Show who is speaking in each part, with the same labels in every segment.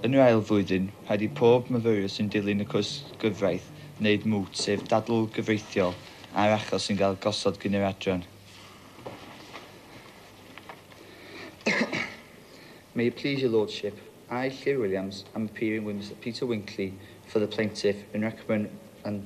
Speaker 1: Yn yr ail flwyddyn, rhaid i bob myfyriwr sy'n dilyn y cwrs gyfraith wneud MWT, sef dadl gyfreithiol ar achos sy'n cael gosod gan yr adran. May it please your Lordship, I, Llyr Williams, am appearing with Mister Peter Winkley for the plaintiff in recommend and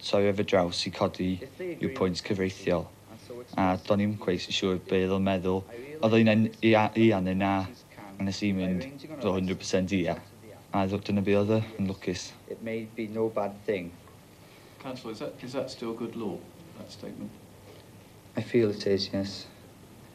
Speaker 1: Torriaf y draws i codi yw pwynt cyfreithiol, a do'n i'm cweit yn siŵr be oedd o'n meddwl. Oedd o un ai ia neu na, a nes i mynd fel hundred percent ia, a dyna be oedd o, yn lwcus. It may be no bad thing. Councillor, is that still good law, that statement? I feel it is, yes.